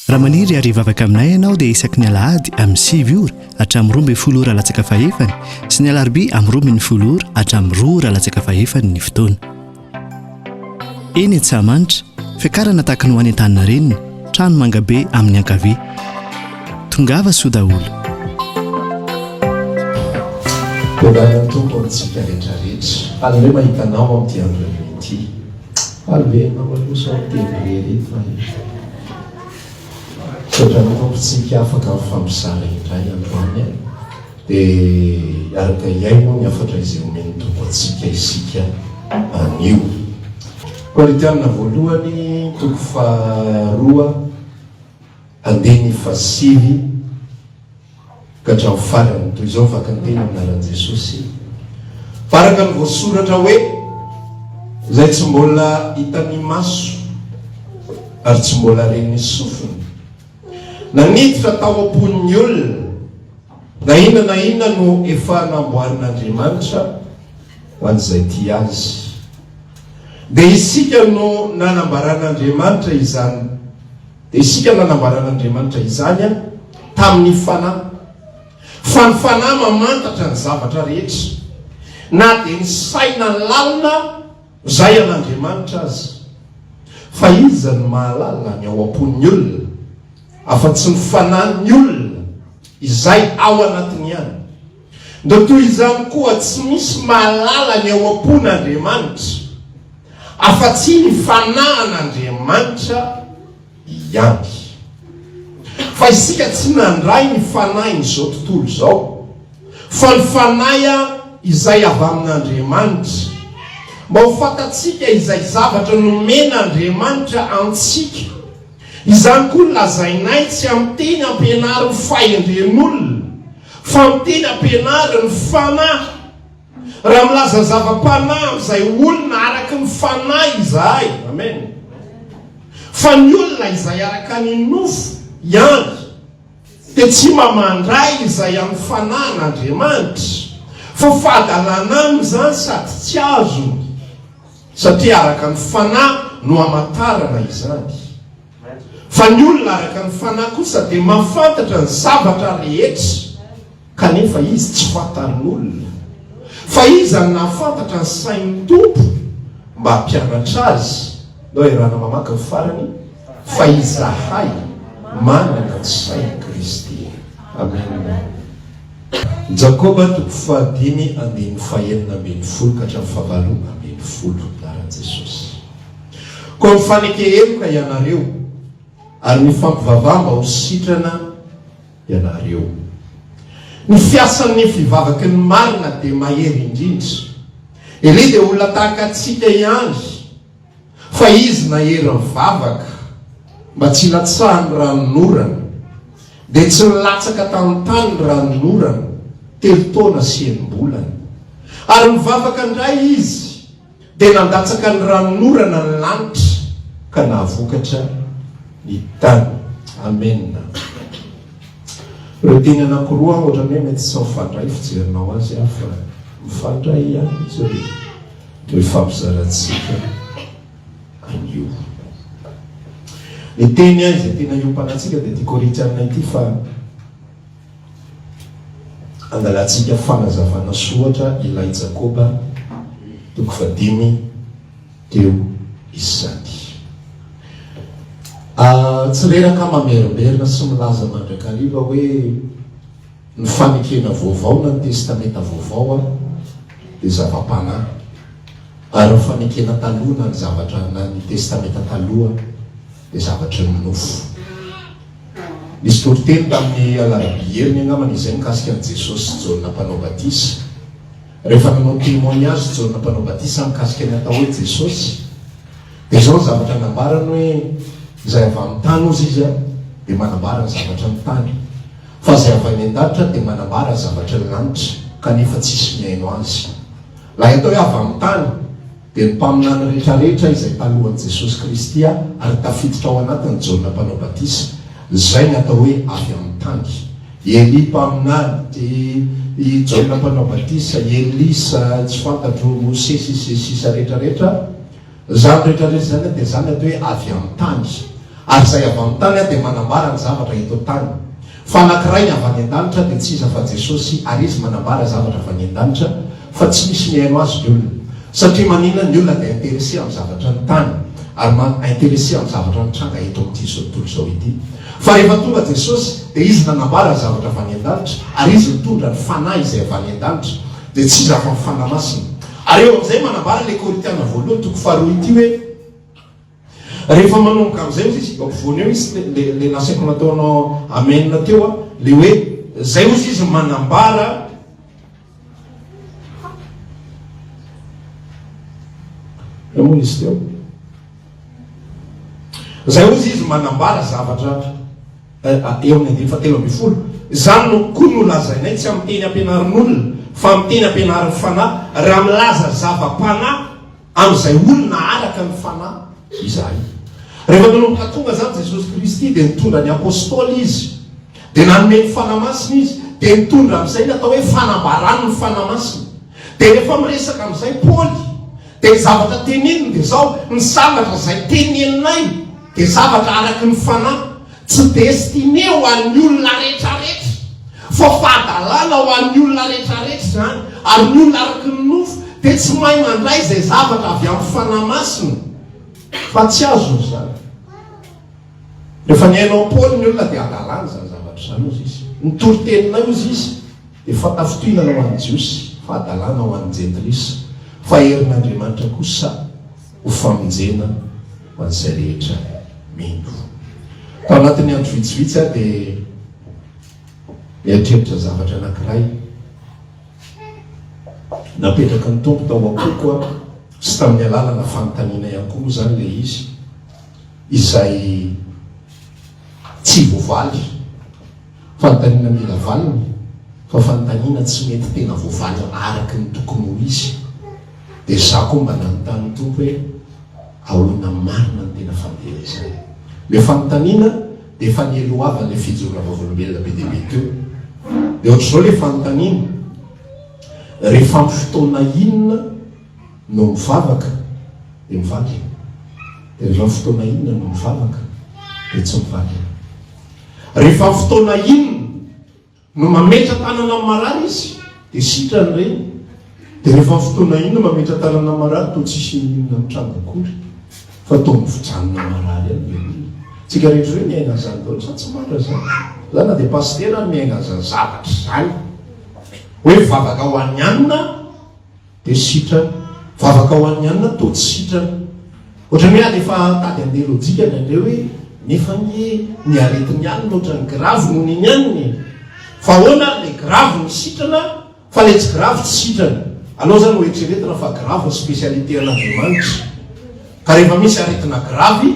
Raha maniry ary hivavaka aminay ianao dia isaky ny alahady amin'ny sivy ora hatramin'ny roa ambin'ny folo ora latsaka fahefany sy ny alarobia amin'ny roa ambin'ny folo ora hatramin'ny roa ora latsaka fahefany ny fotoana. Eny Antsahamanitra, fiakarana tahaka ny ho any Antaninarenina, trano mangabe amin'ny ankavia. Tongava soa daholo. Tongava Tompo amintsika rehetra rehetra. Haleloia mahita anao amin'ity andro haleloia ity. Alehina malosa ao Tévrier iny fa e! Otrany tompo tsika afaka mifampizara indray androany e! De hiaraka hiaino moa ny hafatra izay omen'ny Tompo antsika isika anio. Korintiana voalohany toko faha roa andininy faha sivy. Ka hatramin'ny farany, toy izao ny fakàn-teny amin'ny anaran'i Jesosy. Fa araka ny voasoratra hoe, Izay tsy mbola hitan'ny maso ary tsy mbola ren'ny sofina, na niditra tao am-pon'ny olona, na inona na inona no efa namboarin'Andriamanitra ho an'izay tia Azy. Dia isika no nanambaran'Andriamanitra izany. Dia isika nanambaran'Andriamanitra izany an, tamin'ny Fanahy, fa ny Fanahy mamantatra ny zavatra rehetra, na dia ny saina lalina izay an'Andriamanitra aza. Fa iza no mahalala ny ao am-pon'ny olona, afa-tsy ny Fanahin'ny olona izay ao anatiny ihany? Dia toy izany koa tsy misy mahalala ny ao am-pon' Andriamanitra afa-tsy ny Fanahin' Andriamanitra ihany. Fa isika tsy nandray ny fanahin' izao tontolo izao, fa ny Fanahy izay avy amin' Andriamanitra, mba ho fantatsika izay zavatra nomen' Andriamanitra antsika, izany koa lazainay tsy amin'ny teny ampianarin' ny fahendren' olona, Fa ny teny ampianary ny Fanahy. Raha milaza zava-panahy amin'izay olona araka ny Fanahy izahay, amen, fa ny olona izay araka ny nofo ihany, dia tsy mba mandray izay amin'ny Fanahin'Andriamanitra, fa fahadalana aminy izany sady tsy azony, satria araka ny Fanahy no hamantarana izany. Fa ny olona araka ny fanahy kosa dia mahafantatra ny zavatra rehetra, kanefa izy tsy fantarin'olona. Fa iza no nahafantatra ny sain'ny Tompo mba hampianatra azy? Nao iarahana mamaky ny farany, Fa izahay manana ny sain'i Kristy. Amena. Jakoba toko fahadimy andininy fahenina ambin'ny folo ka hatramin'ny fahavalo ambin'ny folo. Laharan'i Jesosy. Koa mifaneke heloka ianareo, ary mifampivavaha mba ho sitrana ianareo. Ny fiasan'ny fivavaky ny marina dia mahery indrindra. Elia dia olona tahaka antsika ihany, fa izy nahery nivavaka mba tsy hilatsahan'ny ranonorana, dia tsy nilatsaka tanontany ny ranonorana telo taona sy enim-bolana. Ary nivavaka indray izy. dia nandatsaka ny ranonorana ny lanitra ka nahavokatra ny tany. Amena. Ireo teny anankiroa ohatran'ny hoe mety tsy mifandray fijerinao azy aho fa mifandray ihany izy ireo no ifampizarantsika anio. Ny teny izay tena iompanantsika dia ity Korintiana ity fa Angalantsika fanazavana sy ohatra ilay Jakoba toko fahadimy teo izany. A, tsy reraka mamerimberina sy milaza mandrakariva hoe ny Fanekena Vaovao na ny Testamenta Vaovao aho dia zava-panahy, ary ny Fanekena Taloha na ny zavatra na ny Testamenta Taloha dia zavatry ny nofo. Nisy toriteny tamin'ny Alarobia heriny angambany izay mikasika an'i Jesosy sy Jaona Mpanao Batisa. Rehefa nanao témoignage Jaona Mpanao Batisa mikasika ny atao hoe Jesosy, dia izao ny zavatra nambarany hoe, Izay avy amin'ny tany ozy izy dia manambara ny zavatra ny tany, fa izay avy any an-danitra dia manambara ny zavatra ny lanitra, kanefa tsisy mihaino azy. Raha hita hoe avy amin'ny tany, dia ny mpaminany rehetrarehetra izay talohan'i Jesosy Kristy ary tafiditra ao anatin'i Jaona Mpanao Batisa, izay ny atao hoe avy amin'ny tany. I Elia mpaminany, i, i Jaona Mpanao Batisa, i Elisa, tsy fantatro, Mosesy sy sisa rehetrarehetra, Izany rehetra rehetra izany an dia izany atao hoe avy amin'ny tany. Ary izay avy amin'ny tany an dia manambara ny zavatra eto an-tany. Fa anankiray ny avy any an-danitra dia tsy iza fa Jesosy ary Izy manambara zavatra avy any an-danitra fa tsy misy mihaino Azy ny olona. Satria maninona ny olona dia intéressé amin'ny zavatra ny tany ary ma intéressé amin'ny zavatra mitranga eto amin'ity izao tontolo izao ity. Fa rehefa tonga Jesosy dia Izy nanambara ny zavatra avy any an-danitra ary Izy nitondra ny Fanahy izay avy any an-danitra. Dia tsy iza afa ny Fanahy Masina. Ary eo amin'izay manambara ilay Korintiana voalohany toko faharoa ity hoe, rehefa manomboka amin'izay ozy izy, ampovoany eo izy, le, le nasaiko nataonao amen teo an, le hoe, izay ozy izy manambara, Eo moa izy teo. Izay ozy izy manambara zavatra. Eo amin'ny andininy fahatelo ambin'ny folo, Izany no koa no lazainay, tsy amin'ny teny ampianarin'olona, fa amin'ny teny ampianarin'ny Fanahy, raha milaza zava-panahy amin'izay olona araka ny Fanahy izahay. Rehefa nanomboka tonga izany Jesosy Kristy, dia nitondra ny Apôstôly Izy, dia nanome ny Fanahy Masina Izy, dia nitondra amin'izay ny atao hoe fanambaran'ny Fanahy Masina. Dia rehefa miresaka amin'izay Paoly, dia ny zavatra teneniny dia izao, Ny zavatra izay teneninay, Dia zavatra araky ny fanahy, tsy destiné ho an'ny olona rehetrarehetra, fa fahadalana ho an'ny olona rehetrarehetra izany, ary ny olona araky ny nofo dia tsy mahay mandray izay zavatra avy amin'ny Fanahy Masina, fa tsy azony izany. Rehefa nihaino an'i Paoly ny olona dia hadalany izany zavatra izany, hozy izy. Ny toriteninay, hozy izy, dia fahatafintohinana ho an'ny Jiosy, fahadalana ho an'ny Jentilisa, fa herin'Andriamanitra kosa. Ho famonjena ho an'izay rehetra mino. Tao anatin'ny andro vitsivitsy aho dia nieritreritra zavatra anankiray. Napetraky ny Tompo tao am-poko aho, sy tamin'ny alalana fanontaniana ihany koa moa izany ilay izy, izay tsy voavaly. Fanontaniana mila valiny, fa fanontaniana tsy mety tena voavalina araky ny tokony ho izy. Dia za koa mba nanontany ny Tompo hoe, Ahoana marina ny tena fandehana izany? Ilay fanontaniana dia efa nielohavan'ilay fijoroana vavolombelona be dia be teo. Dia ohatr'izao ilay fanontaniana, Rehefa amin'ny fotoana inona? no mivavaka dia mivaky, dia rehefa fotoana inona no mivavaka dia tsy mivaky. Rehefa fotoana inona no mametra tanana amin'ny marary izy dia sitrany ireny, dia rehefa fotoana inona mametra tanana amin'ny marary toa tsisy inona mitranga akory fa toa mijanona marary any le olona. Tsika rehetra hoe miaina an'izany daholo sa tsy marina zany? Za na dia pasitera ary miaina an'izany zavatra izany. Hoe vavaka ho an'ny anona. Dia sitrana. Vavaka ho an'ny alina toa tsy sitrana. Ohatran'ny hoe alefa tady handeha lojika ny an'ireo hoe, nefa anie ny aretin'ny alina ohatran'ny gravy noho ny ny aniny e! Fa ahoana ary ilay gravy no sitrana fa ilay tsy gravy tsy sitrana? Aleo izany hoeritreretina fa gravy ny spécialité an'Andriamanitra. Ka rehefa misy aretina gravy,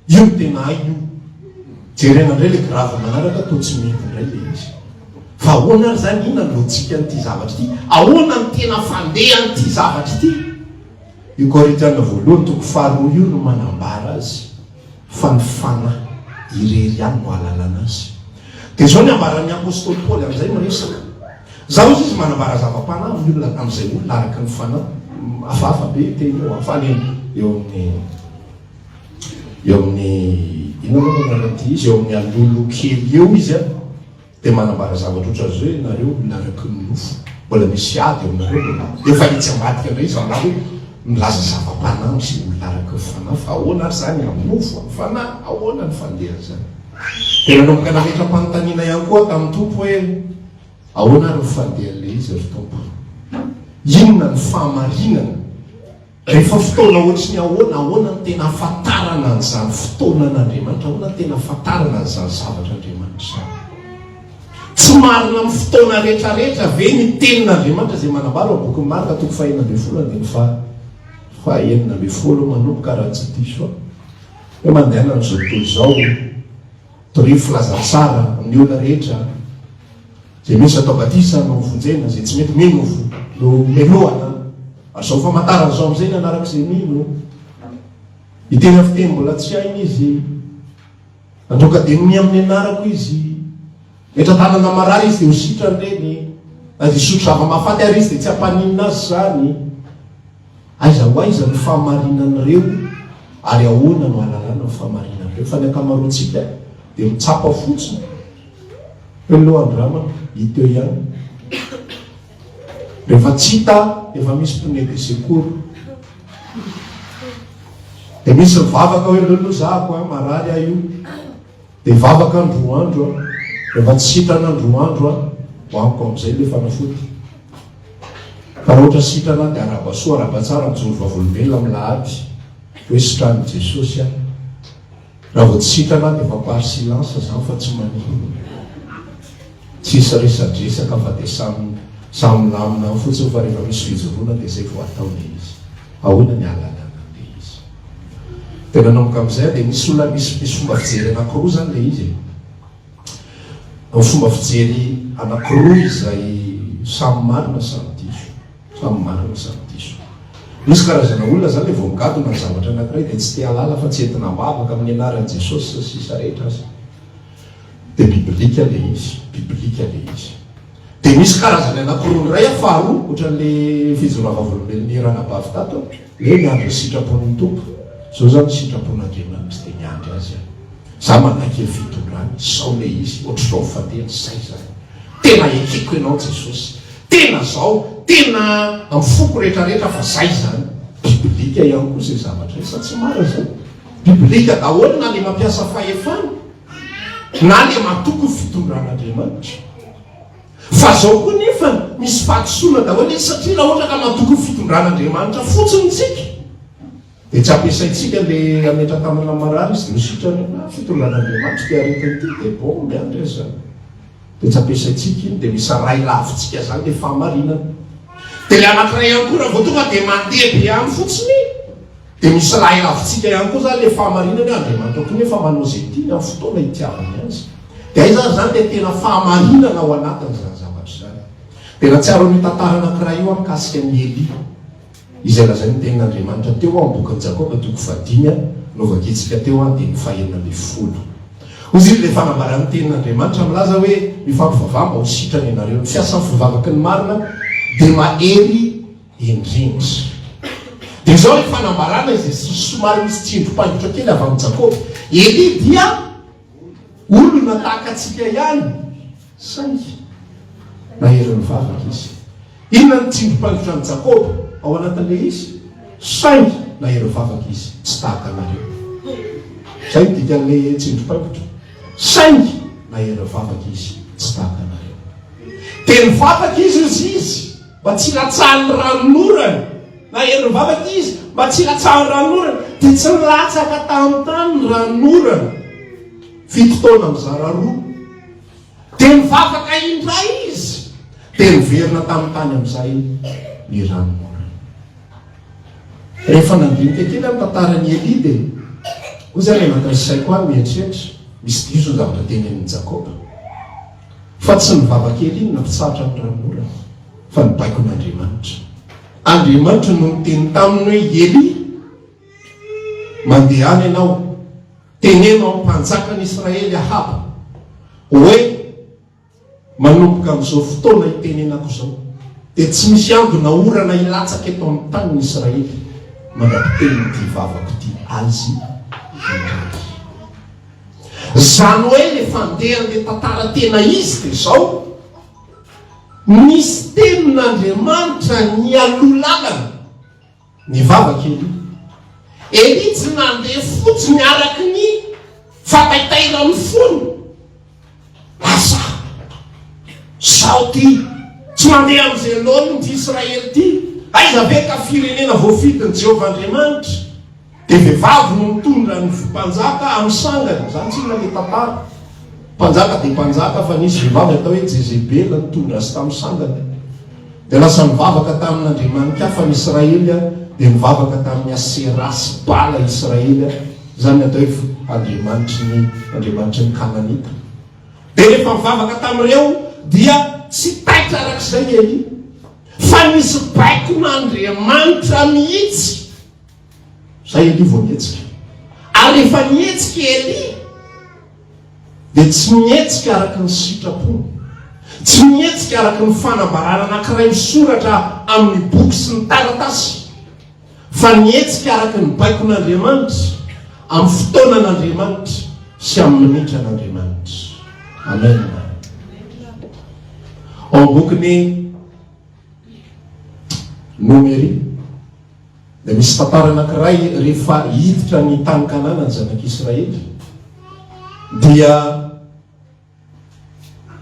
Io no tena hay io. Jerena indray le grave manaraka toa tsy mety indray le izy. Fa ahoana ary zany inona ny logique an'ity zavatra ity? Ahoana ny tena fandehan'ity zavatra ity? Io Korintiana voalohany toko faharoa io no manambara azy fa ny fanahy irery ihany no ahalalana azy. Dia zao ny ambaran'ny apostoly Paoly amin'izay miresaka. Zao izy izy manambara zava-panahy amin'ny olona tamin'izay olona araka ny fanahy. Hafahafa be teny io fa any eo amin'ny eo amin'ny inona moa ny anaran'ity izy eo amin'ny alolo kely eo izy a dia manambara zavatra ohatra izao hoe nareo olona araky ny nofo mbola misy ady eo aminareo dia efa etsy ambadika indray izy angaha hoe milaza zava-panahy sy olona araky ny fanahy fa ahoana ary izany amin'ny nofo amin'ny fanahy ahoana ny fandehan'izany dia nanomboka nametram-panontaniana ihany koa tamin'ny tompo hoe ahoana ary ny fandehan'ilay izy ry tompo inona ny fahamarinana Rehefa fotoana ohatry ny ahoana? Ahoana no tena ahafantarana an'izany fotoana an'Andriamanitra? Ahoana no tena ahafantarana an'izany zavatra Andriamanitra izany? Tsy marina amin'ny fotoana rehetrarehetra ve ny tenin'Andriamanitra izay manambara ao amin'ny bokin'i Marka toko fahenina ambin'ny folo andininy faha fahenina ambin'ny folo manomboka raha tsy diso aho hoe mandehanan'izao tontolo izao Torio filaza tsara amin'ny olona rehetra izay misy atao batisa no vonjena, izay tsy mety mino no melohana, ary izao famantarana izao amin'izay ny anarak'izay mino. Hiteny amin'ny fiteny mbola tsy hainy izy, handroaka demony amin'ny anarako izy, metra-tanana marary izy dia ho sitrany ireny, na dia hisotro zava-mahafaty ary izy dia tsy hampaninona azy izany. Aiza ho aiza ny fahamarinan'ireo ary ahoana no hahalalana ny fahamarinan'ireo? Fa ny ankamaroantsika dia mitsapa fotsiny hoe lo an-drama i teo ihany. Rehefa tsy hita, efa misy mpone de secours. Dia misy mivavaka hoe lolo zahako an, marary aho io. Dia vavaka andro roa andro a! Rehefa tsy sitrana andro roa andro a! Ho amiko amin'izay ilay fanafody. Fa raha ohatra sitrana dia araba soa araba tsara mijoro vavolombelona milahady hoe sitran'i Jesosy aho. Raha vao tsy sitrana dia efa par silence izany fa tsy maninona. Tsisy resadresaka fa dia samy samy milamina ao fotsiny fa rehefa misy fijoroana dia izay vao atao ilay izy. Ahoana ny ahalalana an'ilay izy? Dia nanomboka amin'izay aho dia misy olona misy misy fomba fijery anankiroa izany ilay izy e. Fomba fijery anankiroa izay samy marina samy diso, samy marina samy diso. Misy karazana olona izany ilay vao migadona ny zavatra anankiray dia tsy te-hahalala fa tsy entina am-bavaka amin'ny anaran'i Jesosy sy ny sisa rehetra aza. Dia bibilika ilay izy, bibilika ilay izy. Dia misy karazany anankiroa, ny iray aho faharoa, ohatran'ilay fijora vavolombelon'i Ranabavy tato, hoe miandry ny sitrapon'ny Tompo. Izao izaho ny sitrapon'Andriamanitra dia miandry Azy aho. Izaho manankery fitondrany, sao ilay izy, ohatr'izao fa tena izay izany. Tena ekeko Ianao Jesosy. Tena izao, tena amin'ny foko rehetrarehetra fa izay izany. Bibilika ihany koa izay zavatra izay, sa tsy marina izany? Biblika daholo na le mampiasa fahefana na le matoky ny fitondran'Andriamanitra. Fa zao koa nefa misy fahadisoana daholo izy satria raha ohatra ka matoky ny fitondran'Andriamanitra fotsiny tsika de tsy ampiasaintsika le hametra-tanana marary izy no sitrany na fitondran'Andriamanitra ty aretina ty de bombe any re zany de tsy ampiasaintsika iny de misy ray lavintsika zany le fahamarinana. De le anankiray ihany koa raha vao tonga de mandeha be any fotsiny. Dia misy lahilavintsika ihany koa izany ilay fahamarinana hoe Andriamanitra koa nefa manao izay tiany amin'ny fotoana itiavany azy. Dia aiza ary izany ilay tena fahamarinana ao anatin'izany zavatra izany? Dia nahatsiaro an'io tantara anankiray io aho mikasika an'i Elia, izay lazain'ny Tenin'Andriamanitra teo amin'ny bokin'i Jakoba toko fahadimy a, novakiantsika teo andininy fahenina ambin'ny folo. Hoy izy ilay fanambaran'ny Tenin'Andriamanitra milaza hoe, Mifampivavaha mba ho sitrana ianareo. Ny fiasan'ny fivavaky ny marina dia mahery indrindra. Dia izao ny fanambarana izay sy somary misy tsindrom-paingotra kely avy amin'i Jakoba, Elia dia olona tahaka antsika ihany, saingy nahery nivavaka izy. Inona ny tsindrom-paingotra an'i Jakoba ao anatin'ilay izy? Saingy nahery nivavaka izy, tsy tahaka anareo. Izay ny dikan'ilay tsindrom-paingotra. Saingy nahery nivavaka izy, tsy tahaka anareo. Dia nivavaka izy hoy izy. Mba tsy hilatsahan'ny ranonorana, na herin'ny vavaka izy, mba tsy hilatsahan'ny ranonorana, dia tsy nilatsaka tamin'ny tany ny ranonorana. Fito taona mizara roa. Dia nivavaka indray izy, dia niverina tamin'ny tany amin'izay ny ranonorana. Rehefa nandinika kely amin'ny tantaran'i Elia dia hoy izany anatin'ny saiko aho mieritreritra, misy diso ny zavatra tenenin'i Jakoba. fa tsy ny vavan-kely iny nampitsahatra an'i Ranora fa ny baikon'Andriamanitra. Andriamanitra no niteny taminy hoe Elia, mandehana ianao, teneno amin'ny mpanjakan'i Israely Ahaba hoe manomboka amin'izao fotoana hitenenako izao dia tsy misy ambina orana hilatsaka eto amin'ny tanin'i Israely mandra-pitenin'ity vavako ity azy iray. Izany hoe rehefa handeha handeha tantara tena izy dia izao, nisy tenin'Andriamanitra nialoha lalana, nivavaka Elia. Elia tsy nandeha fotsiny araka ny fataitairan'ny fony. Lasa, sao ty, tsy mandeha amin'izay laoniny ty Israely ty, aiza ve ka firenena voafidin'i Jehovah Andriamanitra? Dia vehivavy no mitondra ny mpanjaka amin'ny sangany. Izany tsy inona ilay tantara. Mpanjaka dia mpanjaka fa nisy vehivavy atao hoe Jezebela nitondra azy tamin'ny sangany. Dia lasa nivavaka tamin'andriamanikafa ny Israely dia nivavaka tamin'ny Asera sy Bala Israely. Izany ny atao hoe andriamanitry ny andriamanitry ny Kananita. Dia rehefa nivavaka tamin'ireo dia tsy taitra arak'izay i Elia fa nisy baikon'Andriamanitra mihitsy. Zay Elie vao mihetsika. Ary rehefa mihetsika i Elie, dia tsy mihetsika araka ny sitrapony. Tsy mihetsika araka ny fanambarana anankiray misoratra amin'ny boky sy ny taratasy, fa mihetsika araka ny baikon'Andriamanitra, amin'ny fotoanan'Andriamanitra sy amin'ny minitran'Andriamanitra. Amen. Ao bokin'ny Nomery. Dia misy tantara anankiray, rehefa hiditra ny tany Kanana ny zanak'Israely, dia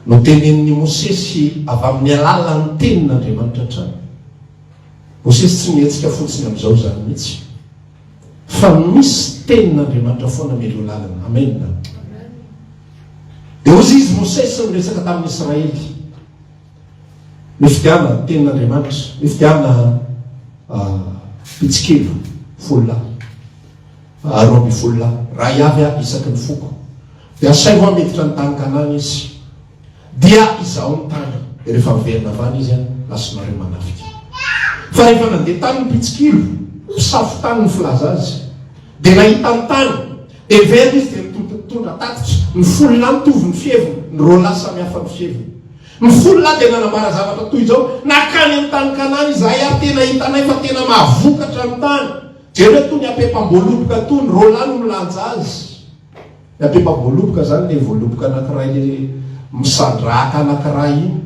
notenenin'i Mosesy avy amin'ny alalan'ny tenin'Andriamanitra hatrany. Mosesy tsy nihetsika fotsiny amin'izao izany mihitsy, fa misy tenin'Andriamanitra foana mialoha lalana. Amena. Dia hoy izy Mosesy miresaka tamin'ny Israely. Ny fitiavana ny tenin' Andriamanitra, ny fitiavana mpitsikilo folo lahy, roa ambin'ny folo lahy, raha hiavy ahy isaky ny foko, dia asaivo aho miditra ny tany Kanana izy, dia izaho ny tany, dia rehefa miverina avy any izy, lasa nareo manafika. Fa rehefa nandeha tany ny mpitsikilo, mpisafo tany ny filaza azy. Dia nahita ny tany, dia very izy, dia nitoto ny tondra tatitra, ny folo lahy mitovy ny fiheviny, ny roa lahy samy hafa ny fiheviny. Ny folo lahy dia nanambara zavatra toy izao, Nakany amin'ny tany Kanana izahay ary tena hitanay fa tena mahavokatra ny tany. Jereo toa ny apepam-boaloboka toa, ny roa lahy no milanja azy. Ny apepam-boaloboka izany ilay voaloboka anankiray ilay misandrahaka anankiray iny.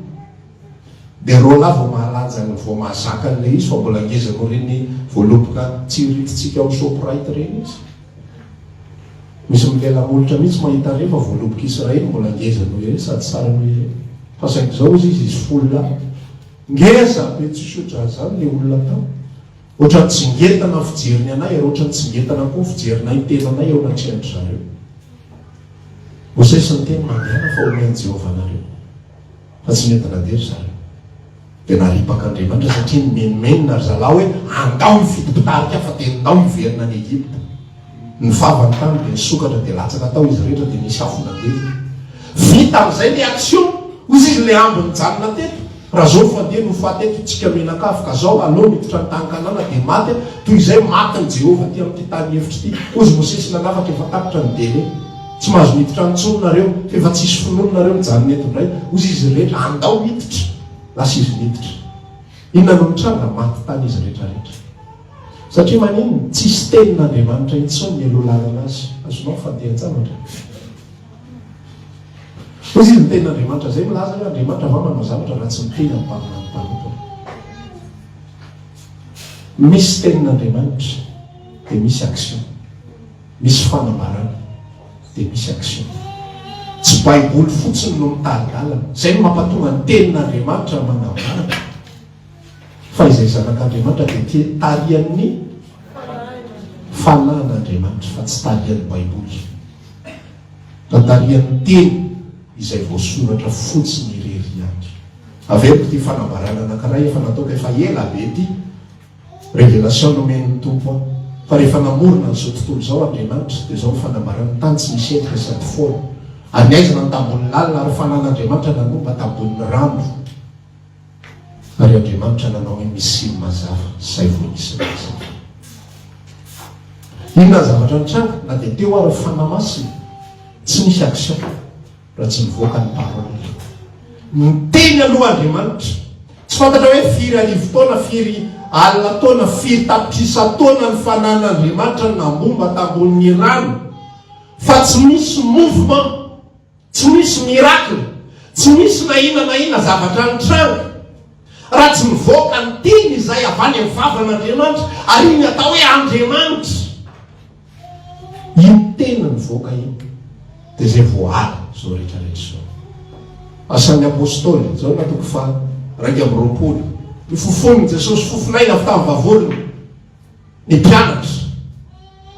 Dia roalahy vao mahalaja ny vao mahazaka an'ilay izy fa mbola ngeza noho ireny voaloboka tsy iritintsika ao Shoprite ireny izy. Misy milela molotra mihitsy mahita an'ireny fa voaloboka Israely mbola ngeza noho ireny sady tsara noho ireny. Fa saingy izao izy izy izy folo lahy. Ngeza be tsisy ohatran'izany ilay olona tao. Ohatran'ny tsy ngentana ny fijeriny anay ary ohatran'ny tsy ngentana koa ny fijerinay ny tenanay eo anatrehan-dry zareo. Mosesy niteny, Mandehana fa homen'i Jehovah anareo. Fa tsy nety nandeha ry zalahy. Dia naripaka Andriamanitra satria nimenomenona ry zalahy hoe andao hifidy mpitarika fa dia ndao hiverina any Egypta. Nifava ny tany dia nisokatra dia latsaka tao izy rehetra dia nisy afo nandevo. Vita amin'izay ny action. Hoy izy le ambo nijanona teto. Razao fandeha no faty eto tsika mianakavy ka zao alou miditra ny tany Kanana dia maty a. Toy izay matin'i Jehovah aty amin'ity tany efitra ity. Kozy Mosesy nanafaka efa tapitra ny délai. Tsy mahazo miditra any intsony nareo, fa efa tsisy finoana nareo, mijanona eto indray, hozy izy rehetra, andao miditra! Lasa izy niditra. Inona no nitranga? Maty tany izy rehetra rehetra. Satria maninona? Tsisy tenin'Andriamanitra intsony nialoha lalana azy. Azonao mifandeha tsara andreo. Hozy izy ny tenin'Andriamanitra, izay milaza hoe Andriamanitra va manao zavatra raha tsy miteny amin'ny mpaminany mpanompony? Misy tenin'Andriamanitra dia misy action. Misy fanambarana dia misy action. Tsy baiboly fotsiny no mitari-dalana. Izay no mampatonga ny tenin'Andriamanitra manambara fa izay zanak'Andriamanitra dia te tarihan'ny fanahin'Andriamanitra fa tsy tarihan'ny baiboly fa tarihan'ny teny izay voasoratra fotsiny irery ihany. Averiko ity fanambarana anankiray efa nataoko efa ela be ity. Révélation nomen'ny Tompo aho fa rehefa namorona an'izao tontolo izao Andriamanitra dia izao ny fanambarany tany tsy nisy endrika sady foana ary ny haizina ny tambon'ny lalina ary fanan'Andriamanitra nanomba tambon'ny rano ary Andriamanitra nanao hoe misy ny mazava zay vao nisy ny mazava inona ny zavatra nitranga na dia teo ary ny fanahy masina tsy nisy action Raha tsy mivoaka ny parole. Miteny aloha Andriamanitra. Tsy fantatra hoe firy arivo taona, firy alina taona, firy tapitrisa taona ny fanan'Andriamanitra nambomba tambonin'ny rano. Fa tsy misy mouvement, tsy misy miracle, tsy misy na inona na inona zavatra nitranga. Raha tsy mivoaka ny teny izay avy any amin'ny vavan'Andriamanitra. Ary iny atao hoe Andriamanitra. Iny tena nivoaka iny dia izay voaala izao rehetra rehetra izao. Asan'ny Apostoly, Jaona toko faha iraika amby roapolo. Ny fofon'i Jesosy, fofon'aina avy tamin'ny vavoniny, ny mpianatra,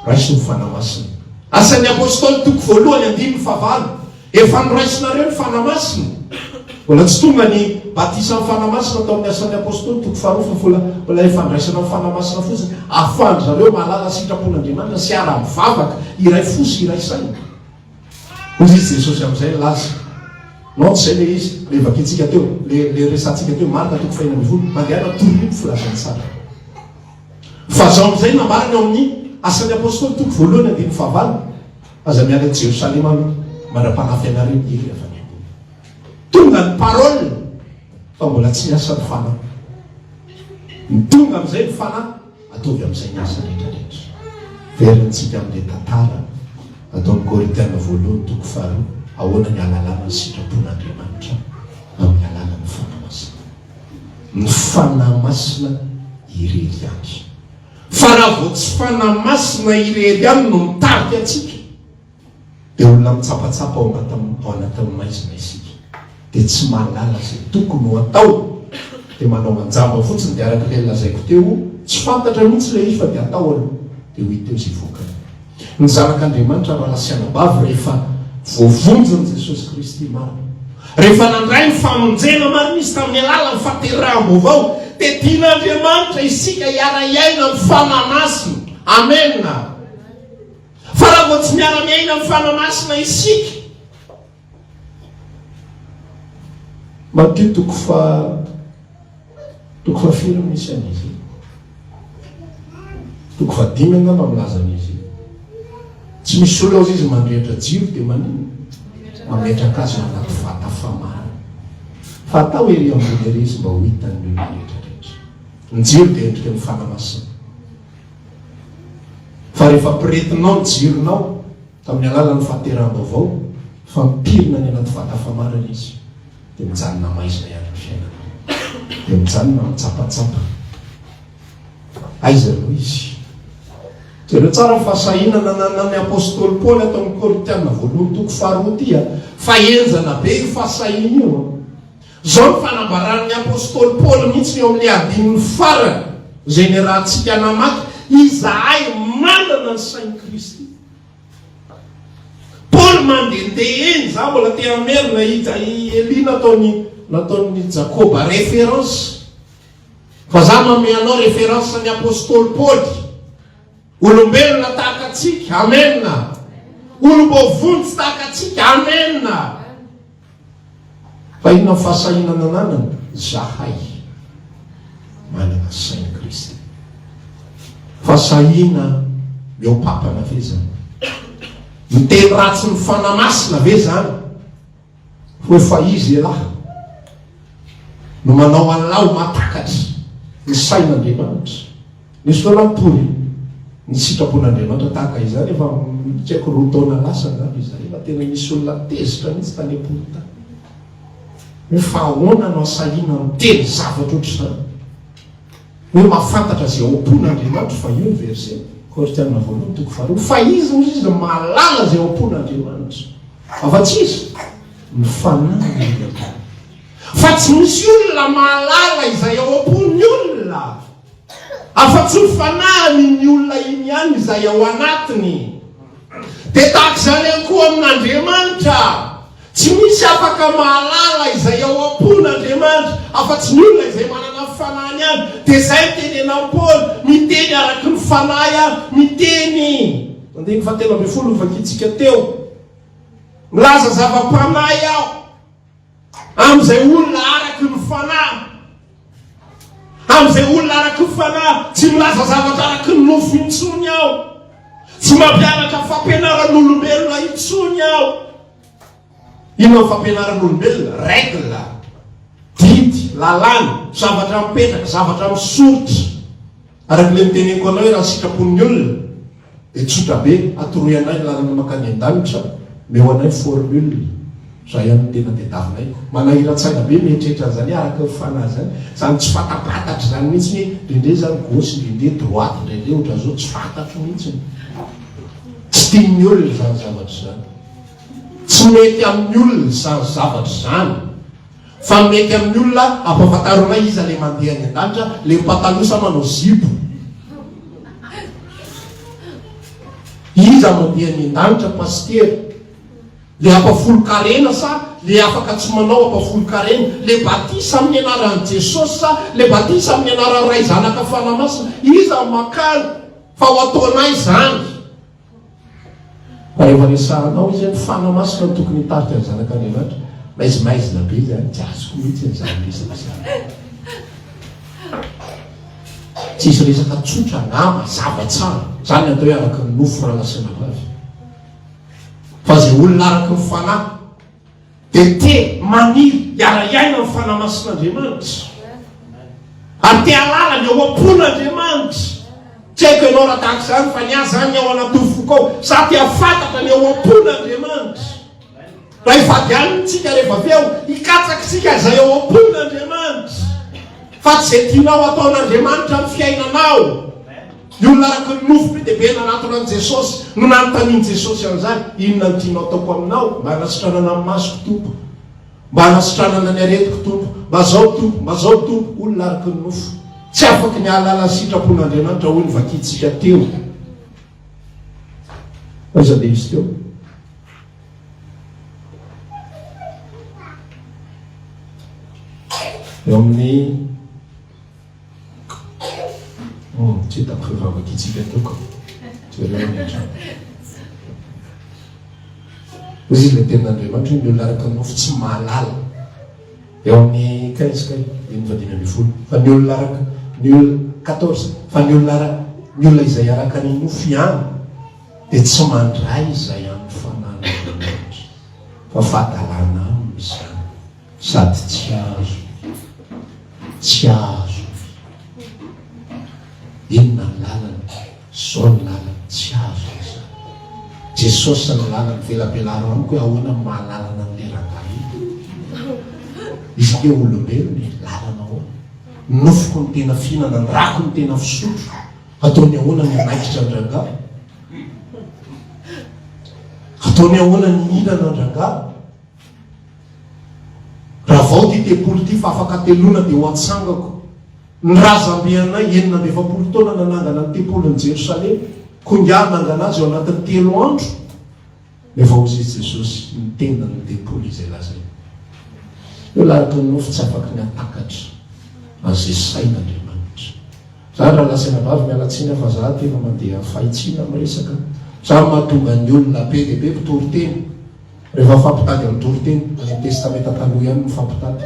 raisin'ny Fanahy Masina. Asan'ny Apostoly toko voalohany andininy faha valo. Efa noraisinareo ny Fanahy Masina? Mbola tsy tonga ny batisan'ny Fanahy Masina tao amin'ny Asan'ny Apostoly, toko faharoa folo folo amby folo, ilay fandraisana ny Fanahy Masina fotsiny, ahafahan-dry zareo mahalala sitrapon'Andriamanitra sy ara-mivavaka, iray fo sy iray saina. Hoy izy Jesosy amin'izay nilaza, Non, tsy izay ilay izy, ilay vakintsika teo, ilay, ilay resahantsika teo, Marka toko fahefatra ambin'ny folo, mandehana, toroy ny filazantsara. Fa izao amin'izay nambarany ao amin'ny Asan'ny Apostoly, toko voalohany andininy fahavalo, Aza miala Jerosalema aloha mandrapanahy fianareo dia iry afa miangona. Tonga ny parole fa mbola tsy miasa ny fanahy. Ny tonga amin'izay ny fanahy ataovy amin'izay ny asa rehetra rehetra. Very antsika amin'ilay tantara ataon'i Korintiana voalohany toko faharoa ahoana ny alalana ny sitrapon'Andriamanitra amin'ny alalan'ny fanahy masina. Ny fanahy masina irery ihany. Fa raha vao tsy Fanahy Masina irery ihany no mitarika antsika, dia olona mitsapatsapa ao anatin'ny maizina isika, dia tsy mahalala izay tokony ho atao, dia manao anjamba fotsiny, dia araka ilay nolazaiko teo, tsy fantatra mihitsy ilay izy fa dia atao aloha, dia ho hita eo izay vokany. Ny zanak'Andriamanitra raha sy anabavy rehefa voavonjin'i Jesosy Kristy marina, rehefa nandray ny famonjena marina izy tamin'ny alalan'ny fahateraham-baovao, dia tian'Andriamanitra isika hiara-hiaina amin'ny Fanahy Masina. Amena. Fa raha vao tsy miara-miaina amin'ny Fanahy Masina isika, Matio toko faha toko fahafiry no misy an'izy io? Toko fahadimy angamba milaza an'izy io. Tsy misy olona hozy izy mandrehitra jiro dia maninona? Mametraka azy ao anaty vata famana. Fa atao ery ambony ery izy mba ho hitan'ny olona rehetra rehetra. Ny jiro dia endrika ny fanahy masina. Fa rehefa piritinao ny jironao, Tamin'ny alalan'ny fahateraham-baovao fa mipirina any anaty vata famarana izy, dia mijanona maizina ihany ny fiainana. Dia mijanona mitsapatsapa. Aiza no izy? Jereo tsara ny fahasahiana nananan'ny apostoly Paoly ato amin'ny Korintiana voalohany toko faharoa ity a. Fa henjana be io fahasahiana io a. Izao ny fanambaran'ny apostoly Paoly mihitsy eo amin'ny andininy farany izay niarahantsika namaky, Izahay manana ny sain'i Kristy. Paoly mandehandeha eny, za mbola te hamerina i ja i Elia nataony nataon'i Jakoba référence. Fa za manome anao référence ny apostoly Paoly. Olombelona tahaka antsika, amen. Olom-baovony tsy tahaka antsika, amen. Fa inona ny fahasahiana nananany? Zahay manana sain'i Kristy. Fahasahiana mihoa-papana ve zany? Miteny ratsy ny Fanahy Masina ve zany? Ho efa izy elah no manao an'lah ho mahatakatra ny sain'Andriamanitra. Nisy fotoana aho nitory ny sitrapon'Andriamanitra tahaka izany efa tsy haiko roa taona lasa angamba izay fa tena nisy olona tezitra mihitsy tany am-pony tany hoe fa ahoana no asahiana miteny zavatra ohatr'izany hoe mahafantatra izay ao am-pony Andriamanitra fa io ny verset Korintianina voalohany toko faharoa fa izy hoy izy mahalala izay ao am-pony Andriamanitra afa tsy izy ny fanahy ny olona fa tsy misy olona mahalala izay ao am-pony olona Afa-tsy ho fanahin'iny olona iny ihany izay ao anatiny, dia tahaka izany ihany koa amin'Andriamanitra. Tsy misy afaka mahalala izay ao am-pon'Andriamanitra afa-tsy ny olona izay manana ny fanahiny ihany. Dia izay no tenenan'i Paoly, miteny araka ny fanahy aho, miteny. Andininy fahatelo ambin'ny folo novakintsika teo, Milaza zava-panahy aho. Amin'izay olona araky ny fanahy, amin'izay olona araky ny fanahy, tsy milaza zavatra araky ny nofo intsony aho, tsy mampianatra fampianaran'olombelona intsony aho. Inona ny fampianaran'olombelona? Règle, didy, lalàna, zavatra mipetraka, zavatra misoritra. Araka ilay noteneniko anao hoe raha ny sitrapon'ny olona dia tsotra be, atoroy anay ny lalana mankany an-danitra, omeo anay ny formule, izay ihany no tena tadiavinay. Manahiran-tsaina be ny mieritreritra an'izany hoe araka ny fanahy izany, izany tsy fantampantatra izany mihitsy hoe indraindray izany gauche indraindray droite indraindray ohatran'izao tsy fantatro mihitsy ny tsy tian'ny olona izany zavatra izany. Tsy mety amin'ny olona izany zavatra izany. Fa mety amin'ny olona ampafantaro anay iza le mandeha any andanitra le pataloha sa manao zipo? Iza mandeha any andanitra pasitera? Le ampafolon-karena sa le afaka tsy manao ampafolon-karena? Le batisa amin'ny anaran'i Jesosy sa le batisa amin'ny anaran'i Ray, Zanaka, Fanahy Masina? Iza no makany fa ho ataonay izany? Rehefa resahanao izy hoe fanahy masina no tokony hitarika ny zanak'Andriamanitra, maizimaizina be izy, tsy azoko mihitsy an'izany resaka izany. Tsisy resaka tsotra na mazava tsara, izany atao hoe araka ny nofo raha nasiana azy. Fa izay olona araka ny fanahy Dia te maniry hiara-hiaina amin'ny fanahy masin'Andriamanitra. Ary te hahalala ny ao am-pon'Andriamanitra. Tsy haiko ianao raha tahaka izany fa ny ahy izany ny ao anatin'ny foko ao. Za te hafantatra ny ao am-pon'Andriamanitra. Raha ifadianiny isika rehefa avy eo, hikatsaka isika izay ao am-pon'Andriamanitra. Fa tsy izay tianao hataon'Andriamanitra amin'ny fiainanao. Ny olona araka ny nofy be dia be nanatona an'i Jesosy no nanontanian'i Jesosy an'izany, Inona no tianao ataoko aminao? Mba anasitranana ny masoko, Tompo. Mba anasitranana ny aretiko, Tompo. Mba zao, Tompo. Mba zao, Tompo. Olona araka ny nofo. Tsy afaky ny hahalala ny sitrapon'Andriamanitra, hoy ny vakintsika teo. Aiza be izy teo? Eo amin'ny Hum, tsy hitako fa vavakintsika tokana. Jereo any an-trano. Hoy izy ilay tenin'Andriamanitra, ny olona araka ny nofo tsy mahalala. Eo amin'ny kay izy kay, dimy fadimy ambin'ny folo. Fa ny olona araka, ny olona, quatorze, fa ny olona araka, ny olona izay araka ny nofo ihany dia tsy mandray izay amin'ny fananan'Andriamanitra, fa fahadalana aminy izany. Sady tsy azo tsy azo inona ny lalany zao ny lalany tsy azo iza jesosy ny lalany velabelaro amiko hoe ahoana ny mahalalana an'le rangahy izy ke olombelona e lalana ahoana nofiko ny tena fihinana ny rako ny tena fisotro ataony ahoana ny anaikitra ny rangahy ataony ahoana ny hinana ny rangahy Raha vao ity tempoly ity fa afaka ateloana dia ho atsangako. Ny razambe anay enina amby efapolo taona nanangana ny tempolin'i Jerosalema, koa ingahy nangana azy ao anatin'ny telo andro. Nefa hozy i Jesosy, Ny tendan'ny tempoly izay lazaina. Eo laraky ny nofo tsy afaky ny hatakatra an'izay sain'Andriamanitra. Zany raha lazaina vavy miala tsiny aho fa za aty efa mandeha fahitsiana miresaka. Zany mahatonga ny olona be dia be mpitoriteny. Rehefa mifampitady amin'ny toriteny, ilay Testamenta Taloha ihany no mifampitady.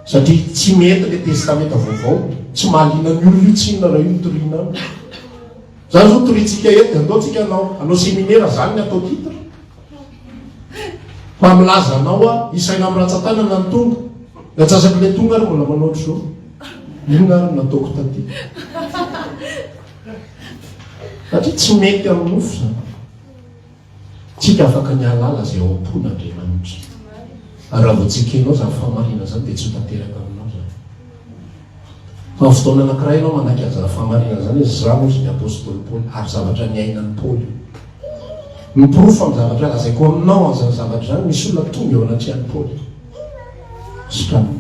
Satria tsy mety ilay Testamenta Vaovao. Tsy mahaliana ny olona io, tsy inona raha io no toriana aminy. Izany izao torintsika eto, dia andeontsika hanao, hanao seminera, izany ny atao titre. Fa milaza anao aho, isaina amin'ny ratsan-tanana ny tonga. Ny antsasak'ilay tonga ary mbola manao ohatr'izao. Inona ary no nataoko taty? Satria tsy mety amin'ny nofo izany. Tsy dia afaka ny hahalala izay ao am-pon' Andriamanitra. Raha vao tsy ekenao izany fahamarinana izany dia tsy ho tanteraka aminao izany. Fa amin'ny fotoana anankiray ianao manaiky an'izany fahamarinana izany hoe izaho hozy ny apostoly Paoly ary zavatra niainan'i Paoly io. Miporofo amin'ny zavatra lazaiko aminao an'izany zavatra izany, misy olona tonga eo anatrehan'i Paoly. Sokaniny.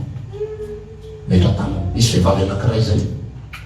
Metra-tanana. Misy vehivavy anankiray izay.